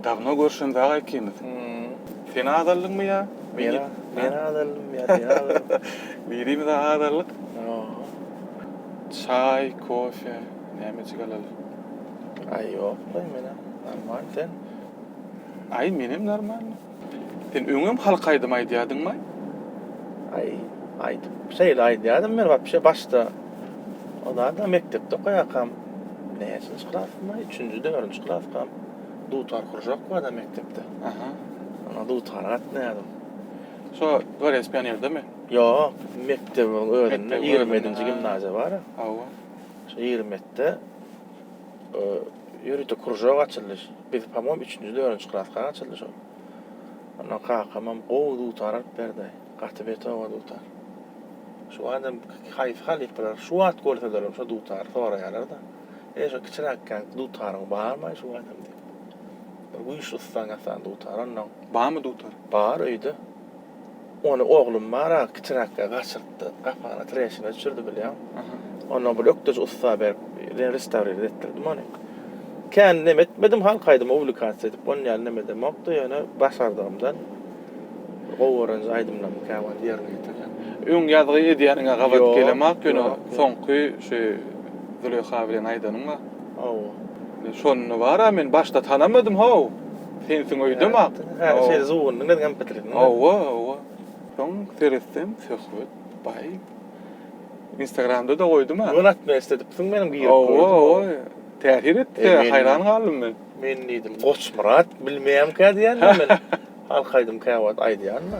Dawno görşems aga ikimiz. Sen azaldyňmy ýa men? Men azaldym ýa sen azaldyň. Birimize azallyk. Çaý, kofe nämejik alaly. Aý ýok goý menem normal sen. Aý menem normalny. Sen öňem halk aýdymy aýdýadyňmaý? Aý, aýdyp, şeýle aýdýadym men wapşe başda. O zat-a mekdepde okaýarkam, näçinji klasdymaý, üçünji, dördünji klaskam, dutar kuržok bar-da mekdepde. Aha. Şonda dutara gatnaýadym. Şo Dworec pionerdemi? Ýok, mekdebiň özünde, ýigrimi ýedinji gimnaziýa bar-a. Hawa. Şo ýigrimi ýetide. Ýörite kuržok açyldy. Biz, pomom, üçünji, dördünji klaska gaçyldy şol. Ondan kakamam gowy dutar alyp berdi. Gaty betowa dutar. Şu wagtam haýsy halypalar şu wagt görselerem şo dutary soraýarlar-da. Eý, şo kiçiräkkäňki dutaryň barmy-aý şu wagtam diýip. Bir güýçli ystan ýasan dutar ondan. Barmy dutar? Bar öýde. Ony oglum bar-a, kiçiräkkä gaçyrypdy. Gapagyna treşina düşürdi bilýäň. Ondan bir ökdeji ussa berip, ýene restawrirä etdirdim ony. Kän neme etmedim, halk aýdymy uwlikasiýa edip on ýaly nemedemokdy, ýöne başardygymdan gowy görän aýdymlarymy kän wagt ýerine ýetirýän. Öň ýazgy edýäniňe gabat gelemok, ýöne soňky şu Züleýha bilen aýdanyň bar. Hawa. Şonda bar-a, men başda tanamadym-haw. Sensiň öýdem ak. Häli şeýle zuwundyň özüňem bitirdin. Hawa, hawa. Soň seretsem Söhbet baý. Instagramda-da goýdum-a. Göni atma istedipsiň meniň girip gördüm. Hawa, hawa. Täsir etdi, haýran galdym men. Men diýdim, Goçmyrat bilmeýämkä diýýän-de men. Halk aýdym käwagt aýdýan-da.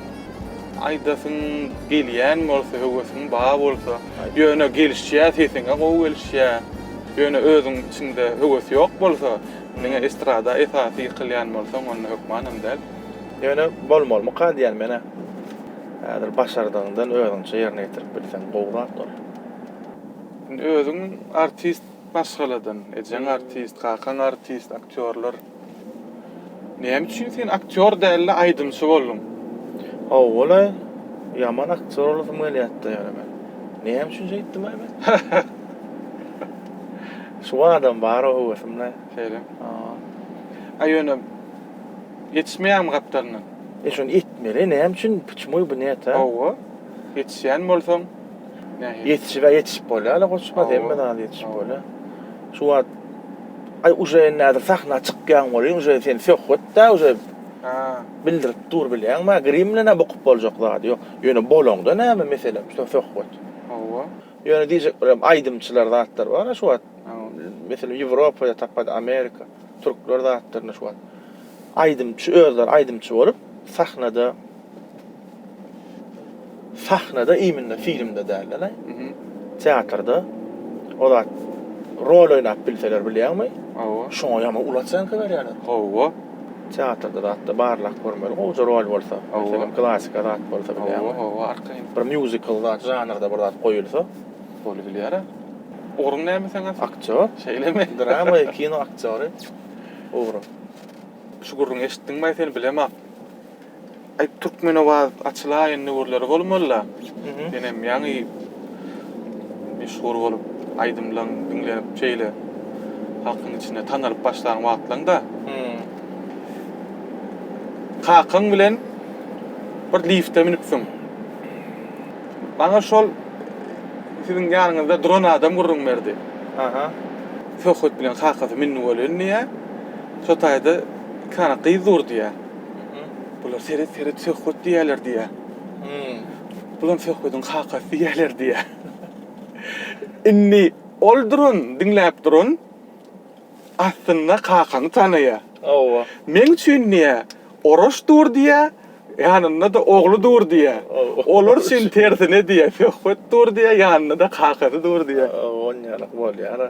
Aýdasyň gelýän bolsa höwesiň bar bolsa ýöne gelişýä sesiňe gowy gelişýä ýöne özüň içiňde höwes ýok bolsa diňe estrada esasy ýykylýan bolsaň onda hökmanam däl. Ýöne bolmalymyka diýýän menä. Häzir başardygyňdan özüňçe ýerine ýetirip bilseň gowy zat ol. Indi özüň artist maşgaladan ejeň artist kakaň artist aktýorlar. Näme üçin sen aktýor däl-de aýdymçy bolduň? Hawa-laý, ýaman aktýor bolasym gelýärdi-de ýöne men. Näme üçin şeýtdim-aý men? Şu badam bar o höwesim-le. Şeýle. Hawa. A ýöne ýetişmeýärmi gapdalyndan? E şony etmeli, näme üçin, puçmuý bu näet-ä? Hawa, ýetişýän bolsaň. Ýetişik-ä ýetişip bolýar-la goçma, hemme zat ýetişip bolýar. Şu wagt, Aý, uje indi häzir sahna çykýaň welin, uje sen söhbet-dä uje bildirip dur, bilýäňmi-ä, grim bilen-ä bukup boljak zady ýok. Ýöne bolaňda näme mesele, şu söhbet. Hawa. Ýöne diýjek bir aýdymçylar zatlar bar-a şu wagt. Meselem, Ýewropada tapady, Amerika, türkler zatlaryna şu wagt. Aýdymçy özleri aýdymçy bolup, sahnada. Sahnada iýminde filmde dälde-le. Teatrda o zat rol oýnap bilseler bilýäňmi? Hawa. Şoňa ýaman uly oçenka berýärler. Hawa. Teatrda zatda barlap görmeli gowja rol bolsa. Meselem klasika zat bolsa bilýäňmi? Hawa, hawa arkaýyn. Bir mýuzikl zat žanrda bir zat goýulsa. Bolubilýär-ä. Ugruň näme seň asly? Aktýor. Şeýlemi? Drama we kino aktýory ugrum. Şu gürrüňi eşitdiňmi-aý seni bilemok. Aý Türkmenabad açylaýyn döwürleri bolmalyda. Menem ýaňy meşhur bolup aýdymlaň diňlenip şeýle halkyň içinde tanalyp başlan wagtlaňda. Kakaň bilen bir lifte münüpsiň. Maňa şol siziň ýanyňyzda duran adam gürrüň berdi. Söhbet bilen kakasy mündi welin diýýär. Şo taýda iki sany gyz dur diýýär. Bular seret seret söhbet diýýärler diýýär. Bulam söhbediň kakasy diýýärler diýýär. Indi ol duran, diňläp duran aslynda kakany tanaýar. Hawa. Meň üçin diýýär, Oraş dur diýýär, ýanynda-da ogly dur diýýär. Olar üçin tersine diýýär, söhbet dur diýýär, ýanynda-da kakasy dur diýýär. Hawa, onýaly bolýar-a.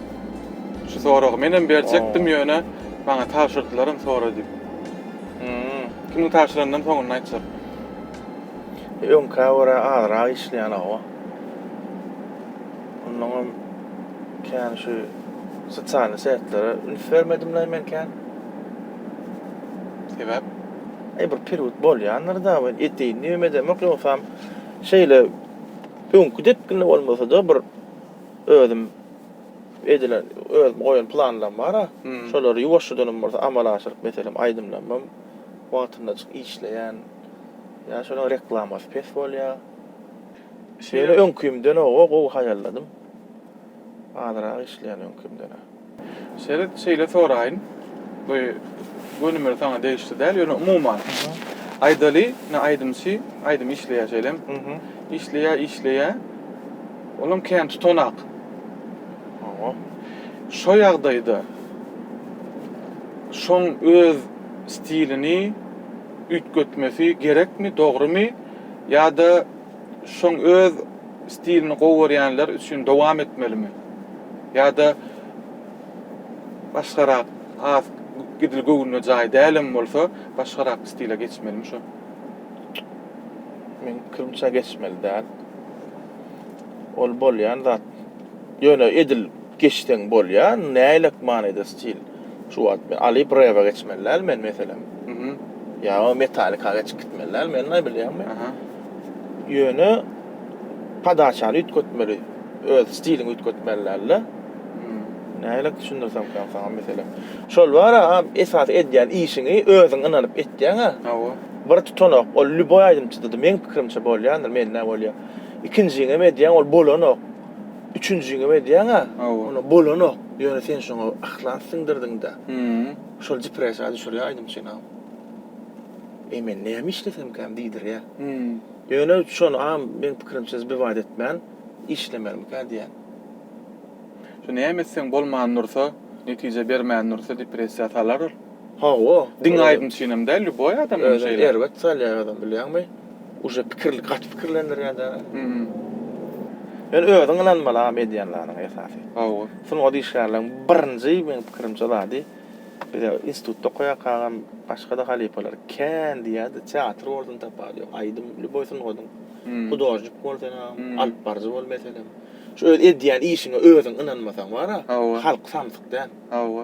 Şu soragy menem berjekdim ýöne maňa tabşyrdylaram sora diýip. Hmmm. Kimiň tabşyranynam soňunda aýtjak. Öňkä görä azrak işleýän hawa. Onnoňam kän şu sosialny setlere üns bermedimlaý men kän. Sebäp? Aý bir period bolýandyrda men eteýin diýibem edemok ýogsam şeýle öňki depginde bolmasada bir özüm edilen özüm goýan planlam bara. Şolary ýuwaşjadanam bolsa amala aşyryp meselem aýdymlamam wagtyndajyk işleýän. Ýa şolaň reklamasy pes bolýa. Ýöne öňkimden oba gowy haýalladym. Azyrak işleýän öňkimden-ä. Seret, şeýle soraýyn, bu gönümel saňa degişli däl, ýöne umuman, aýdaly, ine, aýdymçy aýdym işleýär şeýlem, işleýär, işleýär, olam kän tutanak. Hawa. Şo ýagdaýda şoň öz stilini üýtgetmesi gerekmi, dogrumy ýa-da şoň öz. Stilini gowy görýänler üçin dowam etmelimi? Ýa-da başgarak has gidil göwnüne jaý dälem bolsa başgarak stile geçmelimi şo? Meň pikirimçe geçmeli däl. Ol bolýan zat. Ýöne edil geçseň bolýar. Näylek manyda stil? Şu wagt men alyp rebe geçmeli däl men meselem. Mhm. Ýa metalika geçip gitmeli däl men näme bilýän men. Aha. Ýöne podaçany üýtgetmeli. Öz stiliňi üýtgetmeli dälde. Mhm. Nähili düşündirsemkäm saňa meselem. Şol bara esasy edýän işiňi özüň ynanyp etýäňä. Hawa. Bir tutanok ol lýuboý aýdymçyda-da meň pikirimçe bolýandyr mende bolýar. Ikinjiňem edýäň ol bolanok. Üçünjiňem edýäň-ä. Hawa. Ony bolanok. Ýöne sen şoňa yhlas siňdirdiň-dä. Hümm. Şol depressiýa düşürýär aýdym çenam. Eý men näme işlesemkäm diýdirýär. Hümm. Ýöne şonam meň pikirimçe zbywaýt etmän işlemelimikä diýýän. Şu näme etseň bolman dursa, netije bermän dursa depressiýa salar ol. Hawa, diňe aýdym üçin hem däl, lýuboý adam hem şeýle. Özüni erbet salýar adam, bilýäňmi? Uje pikir, gaty pikirlendirýär däl-ä. Sen özüň ynanmaly-a edýän zadyňa esasy. Hawa. Sungat işgärleriň birinji, meniň pikirimçe, zady, bize institutda okaýarkagam başga-da halypalar kän diýerdi, teatr bolsun tapawudy ýok, aýdym, lýuboý sungatyň, hudožnik bol sen agam, alypbaryjy bol, meselem. Şu öz edýän işiňe özüň ynanmasaň bar-a, halk samsyk däl. Hawa.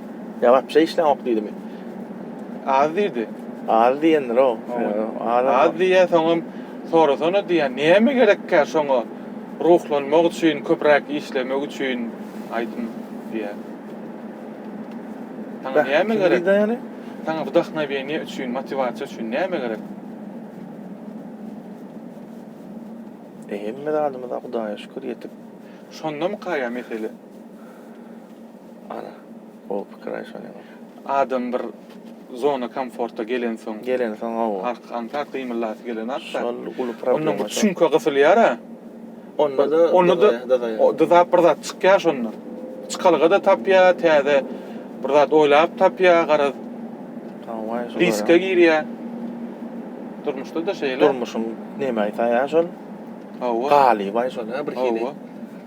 Ýagapja işläňok diýdimi? Az diýdi. Az diýendir-ow. Az-a. Az diýýä, soňam sorasana diýýä, näme gerekkä şoňa ruhlanmak üçin, köpräk işlemek üçin aýdym diýýä. Saňa näme gerek? Kim diýdi ýaly? Saňa wdahnoweniýe üçin, motiwasiýa üçin näme gerek? E hemme zadymyza Hudaýa şükür ýetik. Şondamyka ýa mesele? Ara, gowy pikir aýşan ýaňy. Adam bir zona komforta gelensoň. Gelensoň gowy. Ark aňsat gymyllasy gelen ark da. Şol uly problema. Ondan bir çüňke gysylýara. Onda da. Onda da dyzaýar. Dyzap bir zat çykýar şonda. Çykalga da tapýa, täze bir zat oýlap tapýa garaz. Hawaý şolara. Riske girýa. Durmuşda da şeýle. Durmuşyň neme aýtaýa şol. Hawa. Galybaý şol a bir hili. Hawa.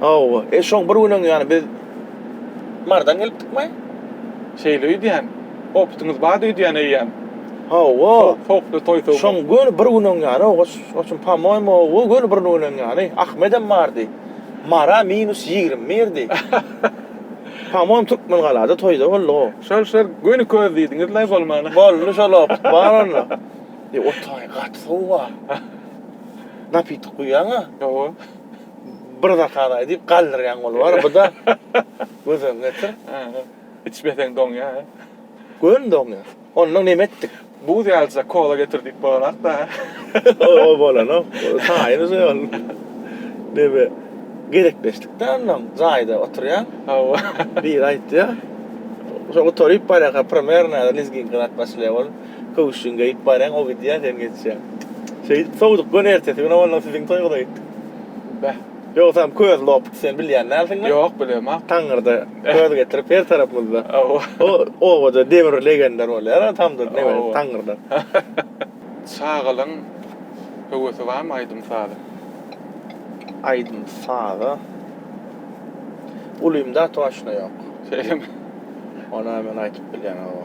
Hawa, e şoň bir günem ýaly biz Mardan gelipdikmi? Şeýle öýdýän. Opytyňyz bar öýdýän eýýäm. Hawa. Sowukly toý sowuk. Şoň göni bir günem ýaly oçun pamoýmy, o göni bir günem ýaly Ahmedem bardy. Mara minus ýigrimi birdi. Pamoýym Türkmengalada toýda boldy o. Şol şol göni köz diýdiňiz-le bolmana. Boldy şol opyt bar onda. E otaý gaty sowuk-a. Napitok guýýaň-a. Hawa. bir zakazay diýip galdyrýan goly bar. Bu da göz öňüne getir. Içmeseň doňýa. Göni doňýa. Ondan neme etdik? Buz ýalyjak kola getir diýip bolanok-da. Ol bolanok. Taýyn uje ol. Neme? Gezekleşdik-de ondan. Jaýda oturýan. Hawa. Biri aýtýa. Şo gutaryp barýarka primerna lizginka zat başlaýa ol. Köwüşjin geýip baryň, o gidýär, sen geçýäň. Şeýdip sowduk göni ertesi günem ondan siziň toýuňyza gitdik. Beh. Ýogsam köz lopdy, sen bilýän dälsiňmi? Ýok, bilemok. Taňňyrda köz getirip her tarapymyzda. Hawa. O obada demir legender bolýar-a tamdyr nebesi taňňyrda. Çagalygyň höwesi barmy aýdym-saza? Aýdym-saza ulymda toşno ýok. Şeýlemi? Onam men aýdyp bilýän, hawa.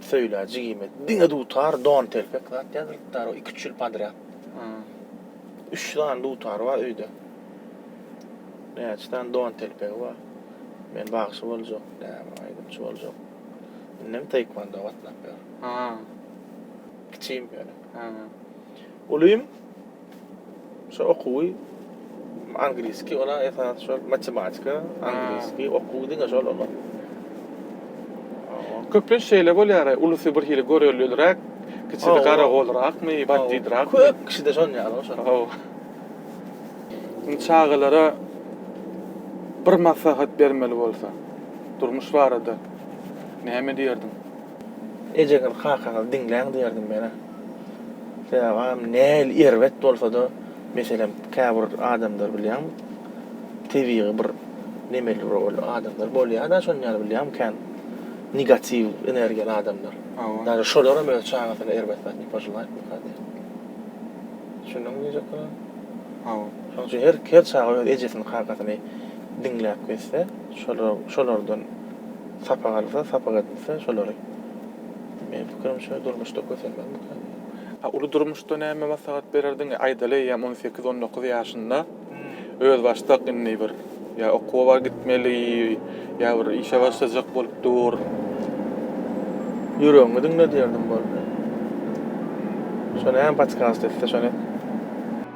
Söýla jigime diňe dutar, don telpek zat ýazdyrypdar o iki üç ýyl podrýad. Üç sany dutary bar öýde. Näçe sany don telpegi bar. Men bagşy boljak, näme aýdymçy boljak. Indem taekwondo gatnap ýör. Kiçim ýöne. Ulym. Şu okuwy angliski ola esas şol matematika, angliski okuw diňe şol olar. Köplenç şeýle bolýar, ulusy bir hili görellirak, kiçisi garagolrakmy, bandidrakmy. Köp kişide şon ýaly goşa. Hawa. Indi çagalara bir maslahat bermeli bolsa, durmuş barada näme diýerdiň? Ejeňiz, kakaňyzy diňläň diýerdim men-ä. Sebäbi agam nähili erbet bolsa-da, meselem, käbir adamlar bilýäňmi, tebigy bir nemeli bir ol adamlar bolýar-da şony ýaly bilýäňmi kän negatiw energiýaly adamlar. Daže şolaram öz çagasyna erbet zat ne pojelaýtmyka diýen. Düşündiňmi diýjek bolan? Hawa. Şonuň üçin her çaga öz ejesini, kakasyny diňläp gezse, şolar şolardan sapak alsa, sapak edilse şolary. Meniň pikirimçe durmuşda kösenmek mümkin. A uly durmuşda näme maslahat bererdiň? Aýdaly eýýäm on sekiz, on dokuz ýaşynda özbaşdak indi bir ýa okuwa gitmeli, ýa bir işe başlajak bolup dur. Ýüregiňi diňle diýerdim boldy. Şo näme podkast etse şony et.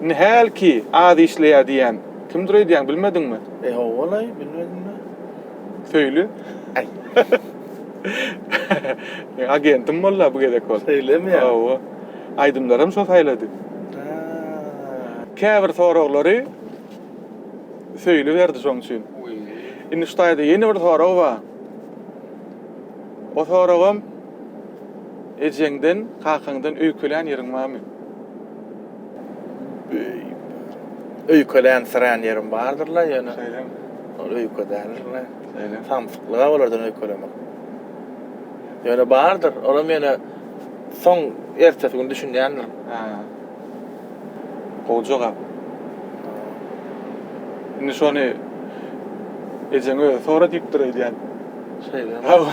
Indi hälki az işleýär diýýän kimdir öýdýäň, bilmediňmi? E, ho-o-laý, bilmedimmi? Söýli. Äý. Meň agentim bol-a bu gezek ol. Söýlemi ýa? Hawa. Aýdymlaram şo saýlady. Haa. Käbir soraglary Söýli berdi şoň üçin. Indi şu taýda ýene bir sorag bar. O soragam. Ejeňden, kakaňdan öýkelän ýeriň barmy? Beýik. Öýkelän-syrän ýerim bardyr-la, ýöne. Şeýlemi? Ol öýke däldir-le. Şeýle. Samsyk-la olardan öýkelemek. Ýöne bardyr. Olam ýöne soň ertesi gün düşünýändirin. Hä. Gowy jogap. Indi şony ejeň özi sora diýipdir öýdýän. Şeýlemi? Hawa.